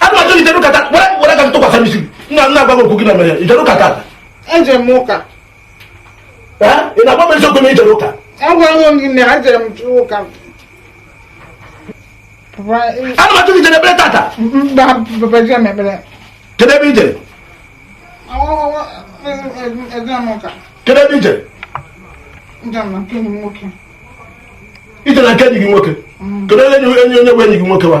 ana m ajụ gị i jere ụka tata were were aka tụkwasị m isi nna nna agwa gị okwu gị na mere i jere ụka tata eje m ụka ị na-agwa m eziokwu na i jere ụka agwago m gị na eje m ụka ana m ajụ gị i jere ekpere tata mba papa eje m ekpere kedu ebe i jere eje m ụka kedu ebe i jere i jere na nke enyi gị nwoke kedu onye bụ enyi gị nwoke wa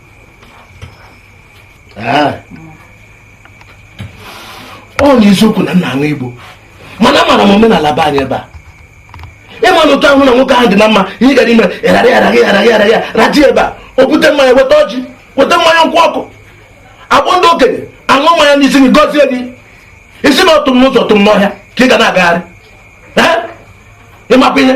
ah. ọ bụ eziokwu na m na-aṅụ igbo mana amara m omenala be anyị ebe a ị ma na ụtọ ahụ na nwoke ahụ dị na mma ihe gara ime ịghara ịghara gị ịghara gị ịghara gị raji ebe a o bute mmanya weta ọjị weta mmanya nkwụ ọkụ a kpọọ ndị okenye aṅụ mmanya n'isi gị gọzie gị ị sị na ọ tụ m n'ụzọ tụ m n'ọhịa ka ị ga na-agagharị ị makwa ihe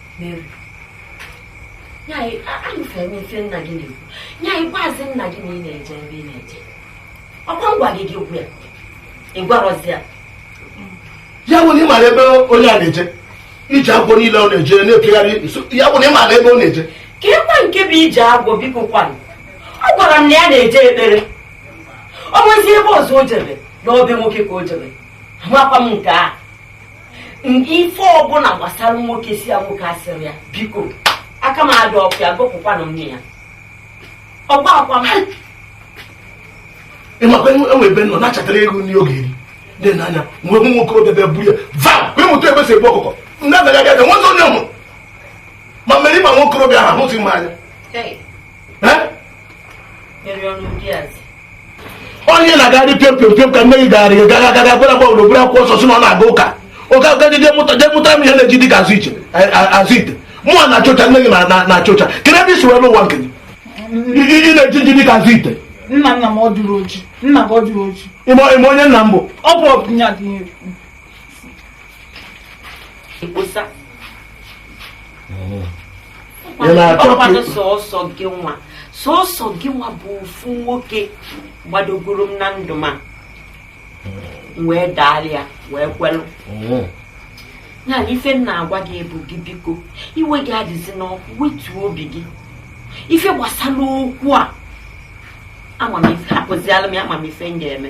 ya bụ na ị mara ebe onye a na-eje ije agwọ niile ọ na-eje na-epegharị ya bụ na ị mara ebe ọ na-eje kedukwa nke bụ ije agwọ biko kwanụ ọ gwara m na ya na-eje ekpere ọ nwezi ebe ọzọ o jere na ọ be nwoke ka o jere amakwa m nke a ife ọbụla gbasara nwoke si ya nwoke asịrị ya biko aka m adịrọkwa ya gụpụkwanụ m na ya ọgba akwa m ị makwa enwe ebe m nọ na-achatara ego nri ọ ga-eri dị n'anya mgbe nwa okorobịa bịa buru ya va wee mụta ebe e si egbu ọkụkọ ndị agaghị abịa nwezi onye mụ ma mere ịma nwa okorobịa ahụ ahụzi m anya onye na-agagharị pịọm pịọm pịọm ka nne gị gara gị gaga gaga gwara gwa obodo buru akwụkwọ nsọ sị na ọ na-aga ụka oge aga gị mụta jee mụta m ihe na-eji dị ka azụ ite mụwa na-acha ọcha nne gị na-acha ọcha kedu ebe i si wee lọ ụwa nke gị ị na-eji oji dị ka azụ ite nna nna m ọ dụrụ oji nna gị ọ dụrụ oji ị ma onye nna m bụ ọ bụ ọbụnya dị ọkwadụ sọsọ gị nwa sọsọ gị nwa bụ ofu nwoke gbadogoro m na ndụ m a m wee daala ya wee kwelụ ya na ife m na-agwa gị bụ gị biko iwe gị adịzina ọkụ wetuo obi gị ife gbasara okwu a ama m ife hapụzialụ m ya ama m ife m ga-eme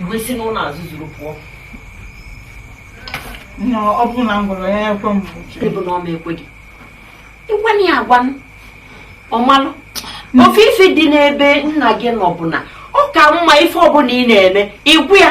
i wee si n'ụlọ azụ zuru pụọ ọ bụrụ na m gwara ya ekwe m ọ bụ na ọ ma ekwe gị ị gwanụ ya agwa ọ malụ ofu ife dị n'ebe nna gị nọ bụ na ọ ka mma ife ọbụla ị na-eme ị gwa ya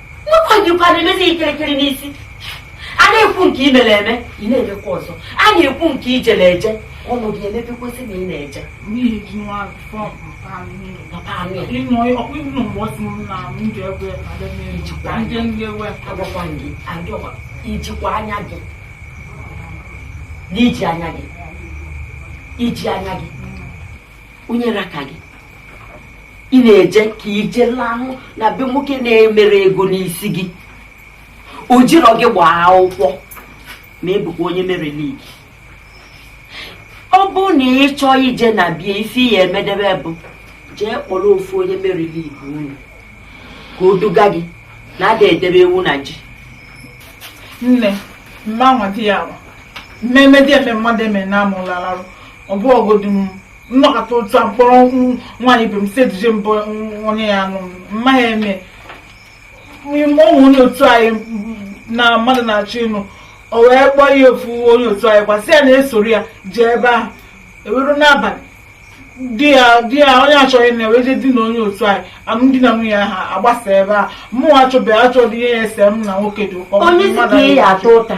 nke a ị jikwa na-emezi ikirikiri n'isi a na-ekwu nke i mere eme ị na-emekwa ọzọ a na-ekwu nke i jere eje ọnụ gị emepekwasị na ị na-eje i jikwa anya gị n'iji anya gị i ji anya gị onye raka gị ị na-eje ka i je lahụ na be nwoke na-emerọ ego n'isi gị o jirọ gị gbaa akwụkwọ ma ị bụkwa onye mary league ọ bụ na ị chọọ ije na be ya ife ị ya-emedebe bụ jee kpọrọ ofu onye mary league unu ka o duga gị na a da edebe ewu na ji nne mma nwata ya ahụ mmemme dị eme mmadụ eme na amụlalarụ ọ bụ ọgodi m nọkata otu a m kpọrọ nwaanyị ibe m si eduje m be onye ya-anụ m maghị eme ime o nwe onye otu anyị na mmadụ na-achọ ịnụ o wee kpọọ ya ofu onye otu anyị kwa sị ya na-esoro ya jee ebe ahụ e wee ruo n'abalị di ya di ya onye chọ ịnụ ya ewee je dinaa onye otu anyị alụmdi na nwunye ha agbasa ebe a mụnwa achọbeghị achọghị ihe ya-ese m na nwoke dị ụkọ onye si ka ị ya-ata ụta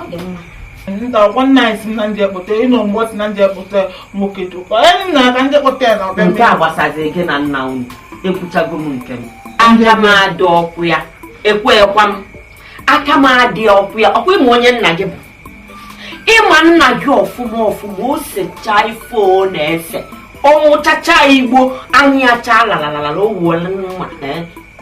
ọ dị mma nta ọkwa nna anyị sị na m je kpọta ị nụ mgbe ọ sị na m je kpọta nwoke dị ụkọ anyị nna ka m je kpọta ya na ọbịa nke a gbasaziri gị na nna unu ekwuchago m nke m aka m adịrọkwa ya ekwuekwa m aka m adịrọkwa ya ọkwa ị ma onye nna gị bụ ị ma nna gị ọfụma ọfụma o sechaa ife ọ na-ese ọ ṅụchachaa igbo anya ya achaa lalalala o wolụ mma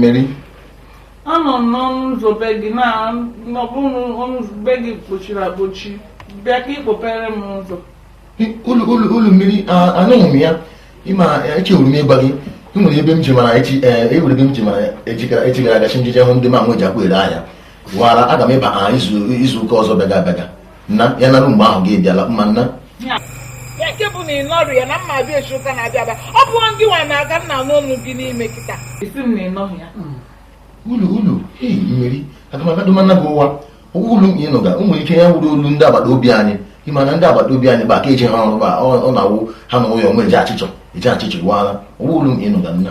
mary anọ m n'ọnụ ụzọ be gị na ọ bụrụ na ọnụ ụzọ be gị kpochiri akpochi bịa ka ị kpọpere m ụzọ hello mary anụghị m ya ị ma echewuru m ịgwa gị e nwere ebe m ji mara echi e nwere ebe m ji mara echi gara echi gara agachi njije hụ ndị ma nwe ji akwa ere ahịa wara aga m ịbịa izu ụka ọzọ bịaga abịaga nna ya narụ mgbe ahụ gị bịala mma nna ya nke bụ na ị nọrọ ya na mma abịa echi ụka na-abịa abịa ọ bụ ndị nwa na-aga nna n'ọnụ gị n'ime kịta ị sị m na ị nọghị ya ulu ulu ei mmeri agamagadụmana gị ụwa ọ wụ olu nke ịnụga o nwere ike ya wụrụ olu ndị agbata obi anyị ịma na ndị agbata obi anyị bụ aka eji ha ọrụ ba ọ na-awụ ha nọ ụyọ nwe eji achịchọ eji achịchọ iwaala ọ wụ olu nke ịnụga nna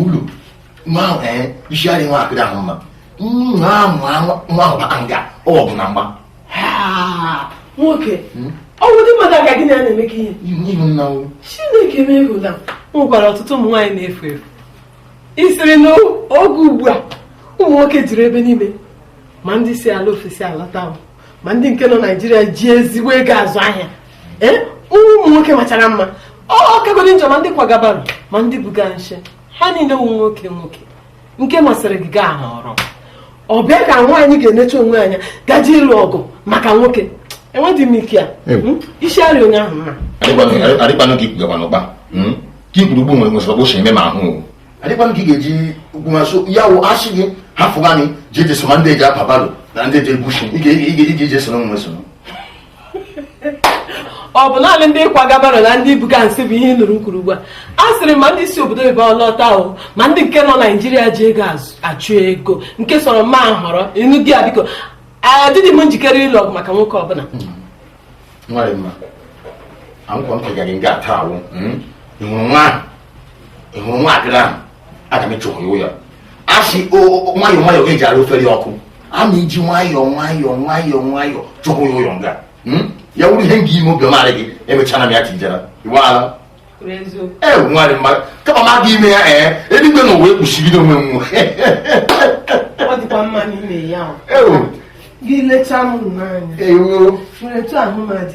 ụlọ ma isi adị nwaakịrị ahụ mma nwa ahụ bata nga ọ bụ na mgba nwoke hmm? ọ wụ di mmadụ aga gị na ya na-emekọ ihe chineke mee hụ na nwekwara ọtụtụ ụmụ nwaanyị na-efu efu isiri n'oge ugbu a ụmụ nwoke juru ebe niile ma ndị si ala ofesi alata ma ndị nke nọ naijiria ji ezigbo ego azụ ahịa ee eh, ụmụ nwoke machara mma ọ kagodi njọ ma ndị kwaga barrow ma ndị buga nsị ha niile wụ nwoke nwoke nke masịrị gị gaa họrọ ọ bịa ka nwaanyị ga-enecha onwe anya gaji ịlụ ọgụ maka nwoke enweghị m ike ya hmm? isi arịa onye ahụ mma adịkwanụ ka ikwugakwa n'ụkpa hmm? ka ikwuru ugbu nwere nwesịrị ọkpụ eme ma ahụ adịkwa m ka ị ga-eji ugwu ha so ya wụ asị gị hafụ gani ji eji so ma ndị eji apa barrow na ndị eji ebu nshị ị ga-eji eji esoro nwe soro ọ bụ naanị ndị kwaga barrow na ndị buga nsị bụ ihe ị nụrụ m kwuru ugbu a a sịrị ma ndị si obodo oyibo lọta o ma ndị nke nọ naijiria ji ego azụ- achụ ego nke sọrọ m ahọrọ ịnụ di ya biko adịghị m njikere ịlụ ọgụ maka nwoke ọbụla nwa dị mma anwụkwa m kegara nga ata awụ ị hụrụ nwa ahụ ị hụrụ nwaakịrị ahụ aga m ịchụrụ ya ụyọ asị nwayọọ nwayọọ ka eji ara ofe dị ọkụ aga m eji nwayọọ nwayọọ nwayọọ nwayọọ chụrụ ya ụyọ nga hmm? ya wụrụ ihe m ga ime obiọma gị emechana m ya tijara iweala ee nwarị mmadụ kama m aga ime ya ee eluigwe na ụwa ekpuchibido onwe m gị lechaa m n'anya etu ahụ mmadụ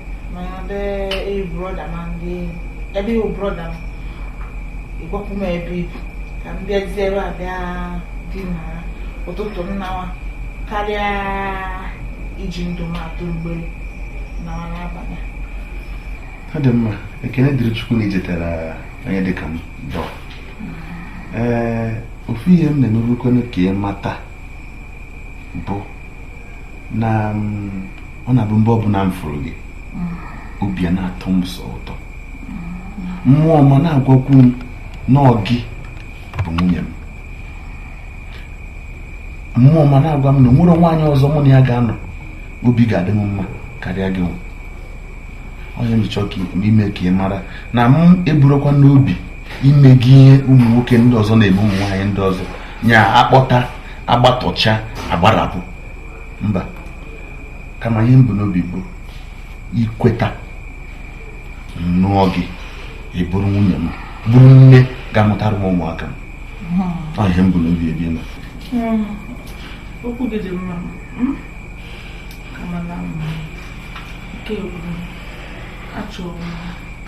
ebe ị wụ brọda m ịgwapụ m ebe ibi ka m bịazie ebe a bịa dinara ụtụtụ m nawa karịa iji ndụ m atụ mgbere nawa n'abalị ọ dị mma ekene dịrị chukwu na ijetara onye dịka m dọ ee ofu ihe m na-emerukwanụ ka ị mata bụ na mm, ọ na-abụ mgbe ọbụla m fụrụ gị obi a na-atọ m sọ ụtọ mmụọ m a na-agwakwu m na ọ gị bụ nwunye m mmụọ m a na-agwa m na o nwerọ nwaanyị ọzọ mụ na ya ga-anọ obi ga-adị m mma karịa gị ọ ihe m chọọ ime ka ị mara na m eburọkwa n'obi ime gị ihe ụmụ nwoke ndị ọzọ na-eme ụmụ nwaanyị ndị ọzọ nya akpọta agbatọcha agbarapụ mba kama ihe m bu n'obi bụ ị kweta m nụọ gị ị bụrụ nwunye m bụrụ nne ga-amụtara m ụmụaka m hmm. ọ ihe m bu n'obi ebe ị nọ hmm. okwu gị dị mma hmm? kama na nke achọrọ m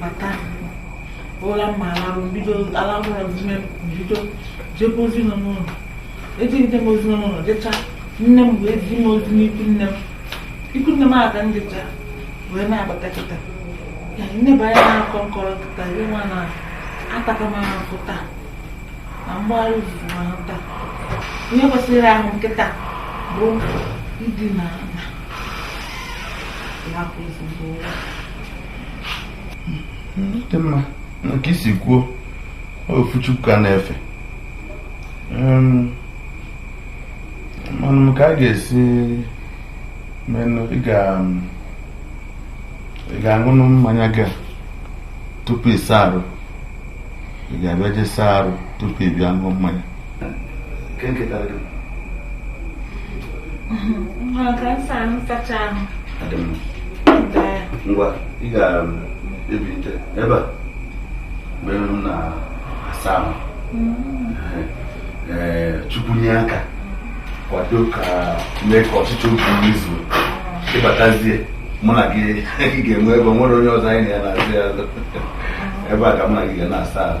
bata ụra mma alarụ m bido alarụ ụra dime bido jebe ozi nọ n'ụlọ ejegide m ozi nọ n'ụlọ jecha nne m wee zi m ozi n'ikwu nne m ikwu nne m a ka m jecha wee na-abata kịta ya m neba anya na-akọ nkọrọ kịta ihe nwa na ataka m ahụ taa na mgbagharị izuzu m ahụ taa ihe kwesịrị ahụ m kịta bụ idina ala dị mma nke i si kwuo ofu chukwu ka a na-efe manụ ka a ga-esi menụ ị ga-aṅụnụ mmanya gị tupu ị saa arụ ị ga-abịa jee saa arụ tupu ị bịa ṅụọ mmanya ngwa ị ga-ebinite um, ebe a mgbe m na-asa ahụ mm. eh, chukwu nye aka kwado ka mee ka ọchịchọ obi anyị zuo ị batazie mụ na gị ga-enwe ebe nwere onye ọzọ anyị na ya na-azọ ya ebe a ka mụ na gị ga na-asa ahụ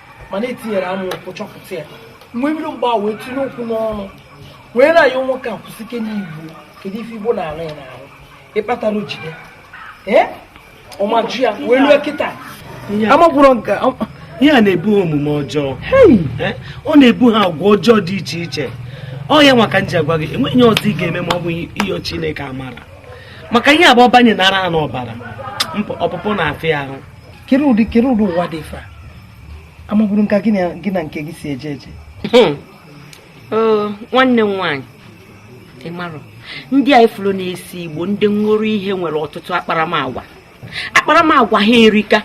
mana etinyere amụ ụkwụ chọpụta ya mgbe mmiri mgbe a wee tinye okwu n'ọnụ wee na-ayọ nwoke a kwụsịkene igbo kedu ife igbo na-arụ ya n'ahụ ihe kpatara o jide ee ọmaju ya wee lue kịta amagwụrọ nke ihe a na-ebu omume ọjọọ ọ na-ebu ha agwa ọjọọ dị iche iche ọ ya nwa ka m ji agwa gị enweghị ihe ọzọ ị ga-eme ma ọ bụghị ịyọ Chineke amara maka ihe a bụ ọ banyenara ha n'ọbara ọpụpụ na-afịa ahụ kere ụdị kere ụdị ụwa dị ife a amabụrọ m ka gị na nke gị si eje eje hmm. nwanne m nwaanyị ị mara ndị a ị furu na-ese igbo ndị ṅụrụ ihe nwere ọtụtụ akparamagwa akparamagwa ha erika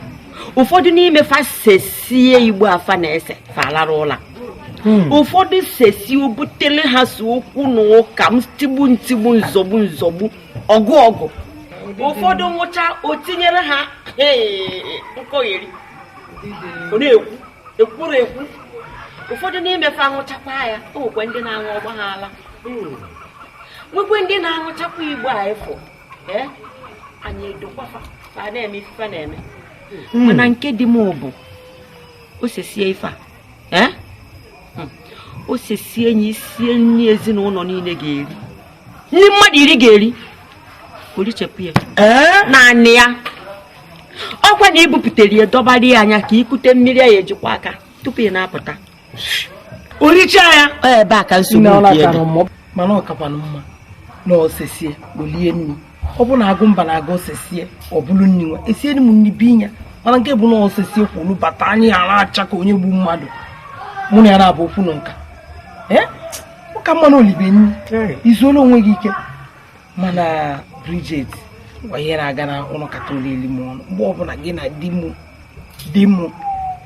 ụfọdụ n'ime fa sesie igbo a fa na-ese fa alara ụla Hmm. ụfọdụ sesie o butere ha ise okwu na ụka ntigbu ntigbu nzọgbu nzọgbu ọgụ ọgụ ụfọdụ ṅụcha o tinyere ha nkọgheri ọ na-ekwu ekwuru ekwu ụfọdụ n'ime fa aṅụchakwa ya o nwekwa ndị na-aṅụ ọ gba ha ala nwekwe ndị na-aṅụchakwa igbo a ịfụ anya edokwa fa fa ana-eme ife na-eme hmm. mana nke di m bụ o sesie ife a o sesie ya i sie nri ezinụlọ niile ga-eri nri mmadụ iri ga-eri o richapụ ya naanị ya ọkwa na i bupụtara ya dọbara ya anya ka i kute mmiri ya eji kwọ aka tupu ị na-apụta o richa ya ebe a ka nsogbu dị ebe mana ọ kakwanụ mma na o sesie o lie nri ọ bụ na Agụmba na agụ o sesie ọ bụrụ nri nwa esie m nri binye ya mana nke bụ na o sesie kwụrụ bata anya ya na-acha ka onye gbu mmadụ mụ na ya na-abụ okwu na ụka ọ ka mma na o libe nri i zuola onwe gị ike mana Bridget ngwa ihe na-aga n'ahụ ụlọ kata o lie m ọnụ mgbe ọbụla gị na di m di m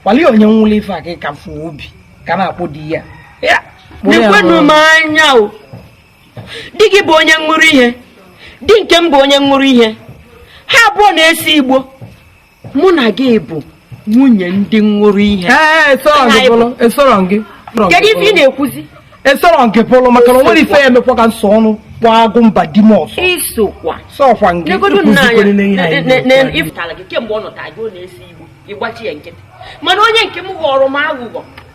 kwalie onye ṅụlụ ife a ka ka fụ obi ka na-akpọ di ya nekwanụ m anya o di gị bụ onye ṅụrụ ihe di nke m bụ onye ṅụrụ ihe ha abụọ na-esi igbo mụ na gị bụ nwunye ndị ṅụrụ ihe kedu ife ị na-ekwuzi i soro nke pụrụ maka na o nwere ife ya emekwa ka m sọ ọnụ kpọ Agụmba di m ọsọ isokwa sọkwa nke ịkụzikwere n'ihe mana onye nke m ghọrọ m aghụghọ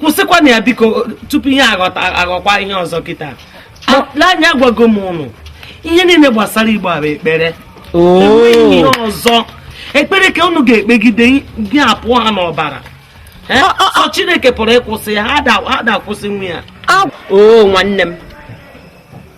kwụsịkwana ya biko tupu ihe a ghọkwa ihe ọzọ kịta lee anya agwago m unu ihe niile gbasara igbo a bụ ekpere enweghị ihe ọzọ ekpere ka unu ga-ekpegide ya apụọ ha n'ọbara Eh? Sọ chineke pụrụ ịkwụsị ya ha da- ha da-akwụsịnwu ya o nwanne m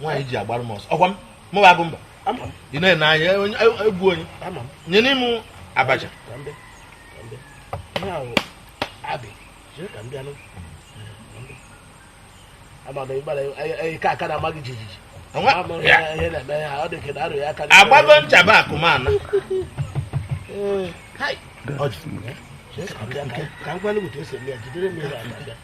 nwaanyị ji agbara m ọsọ ọkwa mụ bụ Agụmba ị na-ene anya e, e, egwu onye nye n'ime abacha agbago nchaba akụmana ka m gwa gị otu esi eme ya jidere m ihe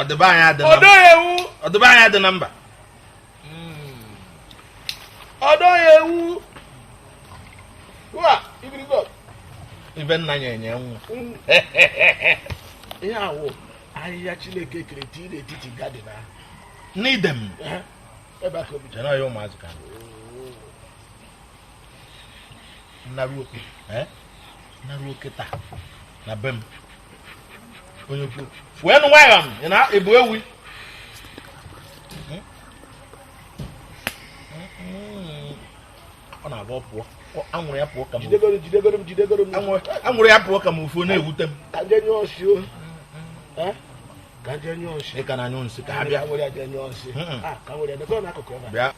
ọ dị be anyị adị na ọ dọghị ewu ọ dị be anyị adị na mba ọ dọghị ewu wa ibiribe ibe nna ya enye nwa ihe awụ ahịhịa chineke kere tii n'etiti gadin ahụ n'Eden ebe aka obi jere ya ụmụazụ ka naruo kịta na be m onye kwuo fuenu nwayọ ị na-ebu ewi ọ na-agba pụọ anwụrụ ya pụọ ka m anwụrụ ya pụọ ka m ife na-ewute m ị ka na-anyụ nsị ka ha bịa bịa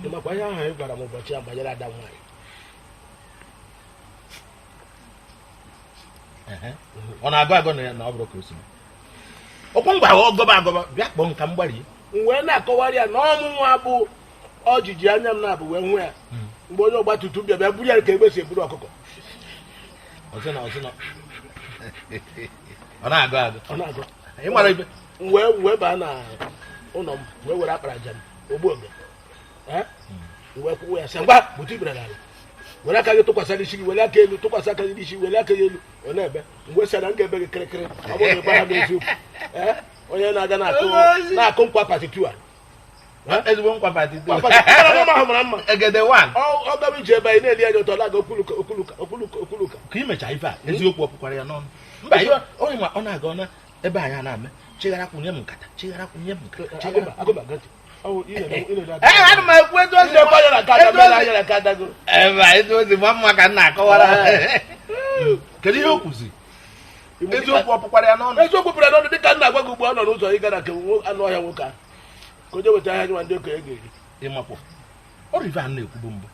ị makwa ihe ahụ ị gwara m ụbọchị ya banyere ada nwaanyị ọ na-agọ agọ na ya na ọ bụrụ ka o si ọkwa ngwa ahụ ọ gọba agọba bịa kpọọ nka mgbari m wee na-akọwara ya na ọ mụnwa bụ o jiji anya m naabọ wee hụ ya hmm. mgbe onye ọgba tum tum bịa bịa buru ya ka egbe si eburu ọkụkọ ọ na-agọ agọ wee wee baa na ụlọ m wee were akparaja m ogbu oge Eh? wee kwụwa ya sị ngwa gbutu ikpere n'ala were aka gị tụkwasị n'isi gị were aka elu tụkwasị aka gị n'isi were aka gị elu ọ na-ebe m wee sị na m ga-ebe gị kịrịkịrị ọ bụrụ na ị gwarọ m eziokwu Eh? onye na-aga na-akụ na-akụ nkwa patitu a ezigbo nkwa pati Nkwa patitu. Mara mma ahụ mara mma egede wan Ọ- ọ gaba ije ebe anyị na-ele anya ụtọ na-aga okuluka okuluka okuluka okuluka ka i mecha ife a eziokwu ọ pụkwara ya n'ọnụ mba ihe onye ma ọ na-aga ọ na ebe anyị a na-eme chighara kwụnye m nkata chighara kwụnye m nkata chighara ana m ekwu etu ozi ebe a etu ozi gba mma ka m na-akọwara ha. kedu ihe o kwuzi eziokwu ọ pụkwara ya n'ọnụ eziokwu pụrụ n'ọnụ dịka m na-agwa gị ugbu a ọ nọ n'ụzọ ịga na nke nwo- anụ ọhịa nwoke a ka o je weta ahịa gị ma ndị okenye ga-eri ị makwa ọrụ ife a na-ekwubu mbụ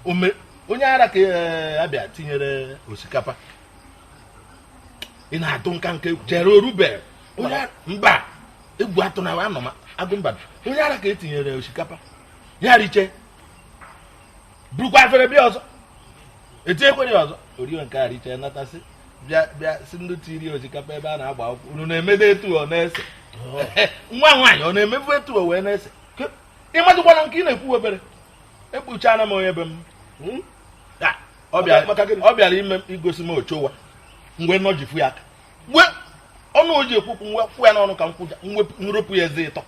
Ome- onye ara ka eh, a bịa tinyere osikapa ị na-atụ nka nke chere orube onye mba egwu atụ na anọ m agụ mba onye ara ka e tinyere osikapa ya riche burukwa afere bịa ọzọ e tinyekwere ya ọzọ o rie nke a riche natasị bịa bịa sị ndị siri osikapa ebe a na-agba akwụkwọ unu na-emede etu ọ na-ese nwa nwaanyị ọ na-emebu etu o wee na-ese ị madụkwana nke ị na-ekwu obere ekpuchana m onye be m hmm? ọ bịara maka gịnị? ọ bịara imegosi m ochowa mgbe nọ ji fu ya aka mgbe ọnụ o ji ekwu okwu m wee kụ ya n'ọnụ ka m kụja mwepụ- m ropụ ya eze ịtọ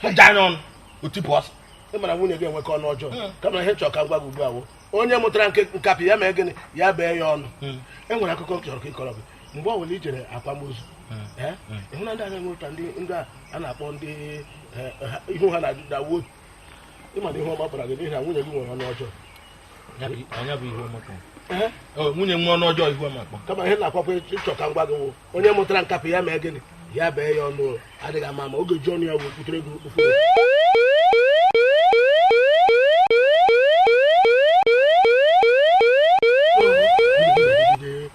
kụjaa ya ọnụ o tipụ ọsọ ị mara nwunye gị enweka ọnụ ọjọọ Mm. kama ihe m chọrọ ka m gwa gị ugbu a wo onye mụtara nke nkapị ya mee gịnị ya bee ya ọnụ Mm. e nwere akụkọ m chọrọ ka m kọọrọ gị mgbe ọ bụla i jere akwamozu ee ị hụ na ndị a na-enwe ụta ndị ndị a a na-akpọ ndị eh, ha- ihu ha na-adawuo ị ma na ihe ọma bara gị n'ihi na nwunye gị nwere ọnụ ọjọọ Eh? Oh, nwunye nwa ọnụ ọjọọ ihu amakpa kama ihe na-akwakwa ịchọ ka m gwa gị wụ onye mụtara nkapị ya mee gịnị ya bee ya ọnụ adịghị ama ama oge ji ọnụ ya wee kwutere gị okwu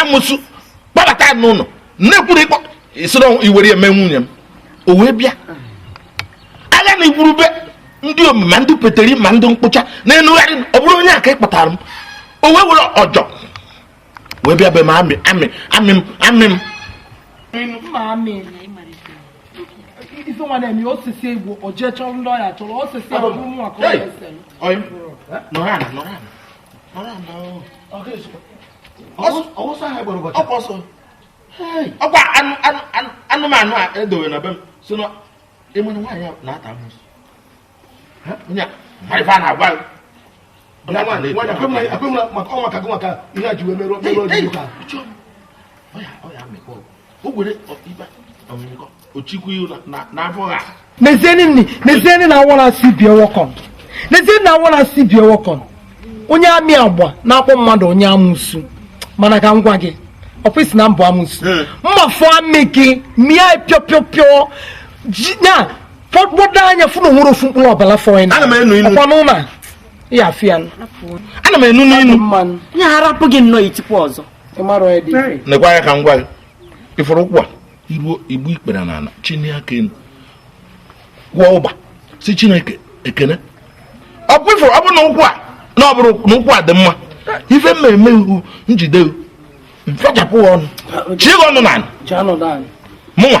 amusu kpọbata ya n'ụlọ nnekwuru ịkpọ isoro i were eme nwunye m o wee bịa agha na igwurube ndị omima ma ndị peteri ma ndị mkpụcha na-enugharị ọ bụrụ onye aka ịkpatara m o wee were ọjọ wee bịa be m amị amị amị m amị m ife nwa na-eme osisi egwu o jee chọrọ ndị ọya chọrọ osisi abụrụ nwa ka ọ na-ese m. Oy. Nọrọ ala, nọrọ ala. ọkwa anụmanụ a edowe na be m si na ịmana nwaanyị na-ata amusu marifa na-agwa maka ọ maka gị maka ihe a ji wee merụọ merụọ nezienụ nni nezienụ na awara si bie wọkọn nezienụ na awara si bie wọkọn onye amị agba na-akpọ mmadụ onye amusu mana ka m gwa gị ọkwa ị sị na m bụ amusu eh. mma fụọ amị gị mịa pịọpịọpịọ ya kpọdo anya fụ na o nwerọ ofu mkpụrụ ọbala fọ ya na ọkwa n'ụlọ ya afịa ana m enu n'inu ya harapụ gị nnọọ itikwa ọzọ nekwa anya ka m gwa gị ị fụrụ ụkwụ a i ruo igbu ikpere n'ala chinie aka enu kwụọ ụba sị chineke ekene ọkwa ị fụrụ ọ bụrụ na ụkwụ a na ọ bụrụ na ụkwụ a dị mma ife mmemme ihu m jide fechapụ ọnụ chie ọnụ n'ala mụnwa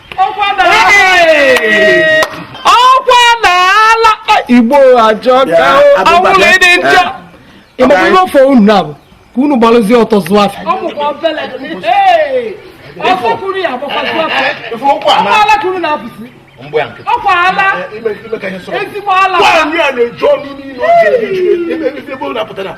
ọkwa na ala igbo ajọka awụlụ ịdị njọ ịgba ihe ọ fọ unu na abụ ka unu gbalụzie ọtọ zụọ afịa ọkwa ala ezigbo ala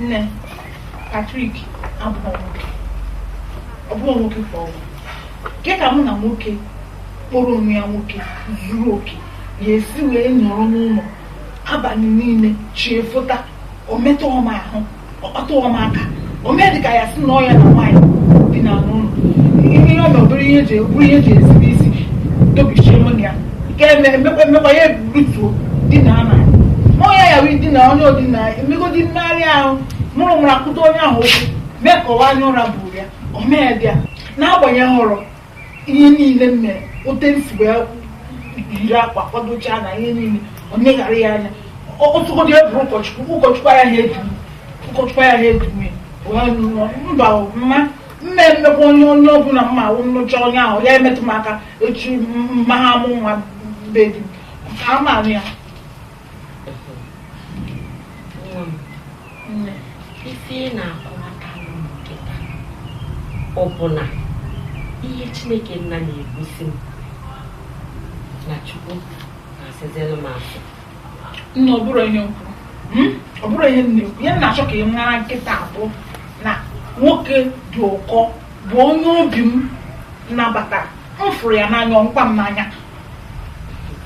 nne Patrick abụrọ nwoke ọ bụrọ nwoke ka ọ bụ kee ka mụ na nwoke kpọrọ onwe ya nwoke zuru oke ya-esi wee nọrọ n'ụlọ abalị niile chi efota o metụọ m ahụ ọ kpatụọ m aka o mee dịka ya sị na ọ ya na nwaanyị dina n'ụlọ ihe ọ na obere ihe ji bụrụ ihe ji ezigbo isi dobichie mụ na ya nke eme- emekwa emekwa ya ebutuo dina ama ọ ya ya wee dina onye o dina emegodi mmegharị ahụ mụrụ mụrụ akpatụ onye ahụ ụkwụ mee ka ọ wụ anya ụra buru ya o mee bịa n'agbanyeghị hụrụ ihe niile m mere otu m si wee yiri akwa kwadochaa na ihe niile ọ na-eghara ya anya ọtụgodị e bụrụ ụkọchukwu ụkọchukwu ya ha edu mba mma mma emekwa onye ọbụla mma awụ m nụchaa onye ahụ ya emetụ m aka echi mma ha amụ nwa be di m ka a maara ya ife ị na-akọwata kịta ọ bụ na ihe chineke nna na-egosi m na chukwu na-asịzịlụ m asị nne ọ bụrọ ihe m kwuru hmm? ọ bụrọ ihe m na-ekwu ihe m na-achọ ka ị mara kịta bụ na nwoke dị ụkọ bụ onye obi m nabata m fụrụ ya n'anya ọ fụkwa m n'anya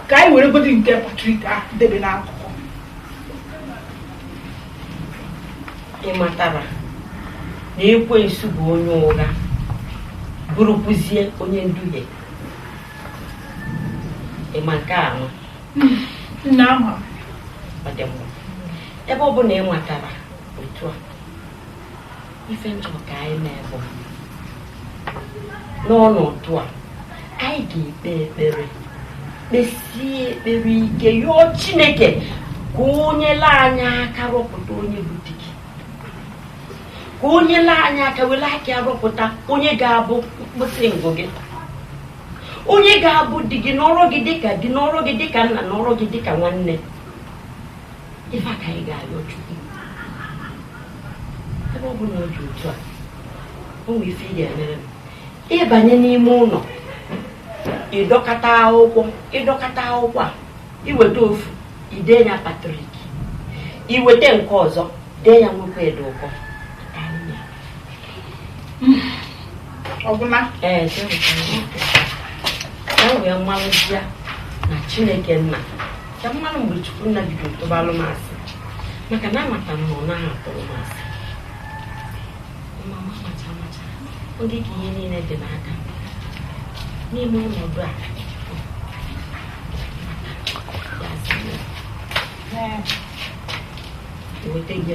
ka anyị were godi nke Patrik a debe n'akụkụ ị matara na ekwensu bụ onye ụgha bụrụkwuzie onye nduhie ị ma nke ahụ nna ama m ọ dị mma ebe ọ bụ na ị matara otu a ife m chọrọ ka anyị mee bụ n'ọnọdụ a anyị ga-ekpe ekpere kpesie ekpere ike yọọ chineke ka o nyelu anyị aka rọpụta onye bụ di gị ka o nyelu anyị aka were aka ya rọpụta onye ga-abụ mkpụsị ngụ gị onye ga-abụ di gị nọrọ gị dịka di nọrọ gị dịka nna nọrọ gị dịka nwanne ife a ka anyị ga-ayọ Chukwu ebe ọ bụ na ọ dị otu a o nwere ife ị ga-emere m ị banye n'ime ụlọ ị dọkata akwụkwọ ị dọkata akwụkwọ a i weta ofu i dee ya patrik i weta nke ọzọ dee ya nwoke dị ụkọ ọgwụla ee e wee malụzia na chineke nna ka m malụ mgbe chukwu nna bido tụbalụ m asị maka na amata m na ọ naghị atụrụ m asị mama macha macha oge ka ihe niile dị n'aka n'ime ọnọdụ a weta gị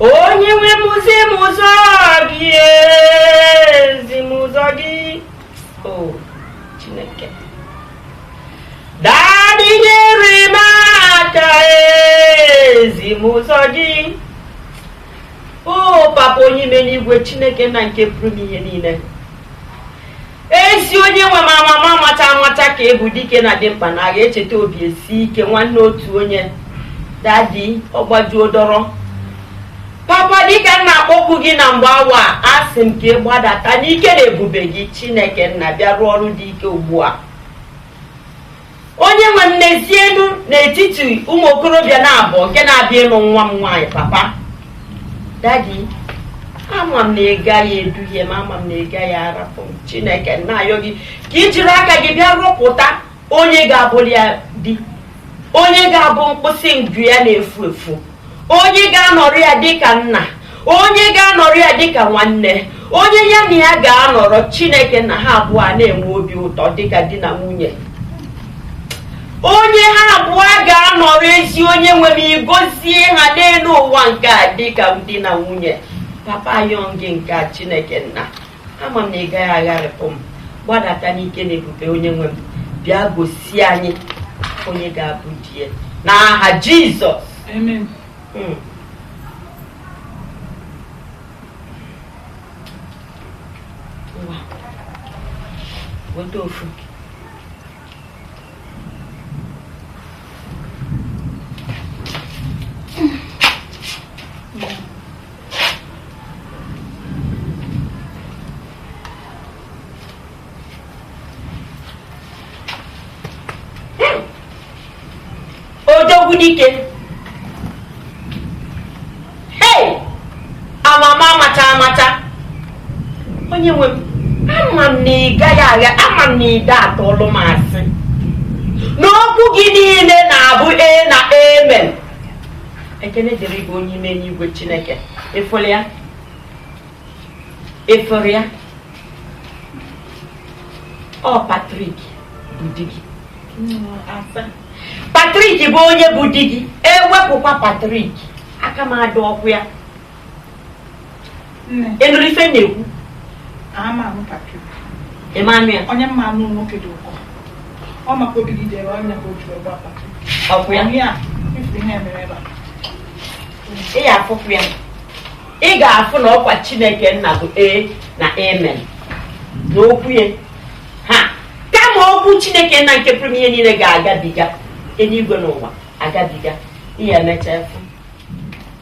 onye nwe m zi m ụzọ gị ezi m ụzọ gị o chineke dadị nyere m aka ezi m ụzọ gị o papa onye mere igwe chineke nna nke pụrụ ime ihe niile ezi onye nwe m amama amacha amacha ka ị bụ dike na dimkpa na agha echeta obi esie ike nwanne otu onye dadi ọgbajuo dọrọ papa dịka m na-akpọku gị na mgbe awa a asị m ka ị gbadata n'ike na ebube gị chineke nna bịa rụọ ọrụ dị ike ugbu a onye nwe m n'ezie elu n'etiti ụmụ okorobịa naabọ nke na-abịa ịlụ nwa m nwaanyị papa dadi ama m na ị gaghị eduhie m ama m na ị gaghị arapụ m chineke m na-ayọ gị ka i jiri aka gị bịa rọpụta onye ga-abụlụ ya di onye ga-abụ mkpịsị ngụ ya na-efu efu onye ga-anọrọ ya dịka nna onye ga-anọrọ ya dịka nwanne onye ya na ya ga-anọrọ chineke nna ha abụọ a na-enwe obi ụtọ dịka di na nwunye onye ha abụọ ga-anọrọ ezi onye nwe m i gozie ha n'elu ụwa nke a dịka di na nwunye papa ayọ m gị nke a chineke nna ama m na ị gaghị agharịpụ m gbadata n'ike na ebube onye nwe m bịa gosi anyị onye ga-abụ di ya n'aha jizọs Amen. Mm. Ngwa, weta ofu dike hei amama amacha amacha onye nwe m ama m na ị gaghị agha ama m na ị da atụlụ m asị na okwu gị niile na-abụ ee na amen ekene dịrị gị onye ime eluigwe chineke ị fụrụ ya ị fụrụ ya ọ patrik bụ di gị patrik bụ onye bụ di gị ewepụkwa patrik aka m adịrọkwa ya ị nụrụ ife m na-ekwu ịmanụ ya onye mma anụ nwoke dị ụkọ ọ maka obi gị jere ọnya ka otu ọgba ọkụ ya ya ifu ihe mere ebe ị ya afụkwa ya ị ga-afụ na ọkwa chineke nna bụ ee na amen na okwu ya ha kama okwu chineke nna nke pụrụ ihe niile ga-agabiga eluigwe na ụwa agabiga ị ya emecha fụ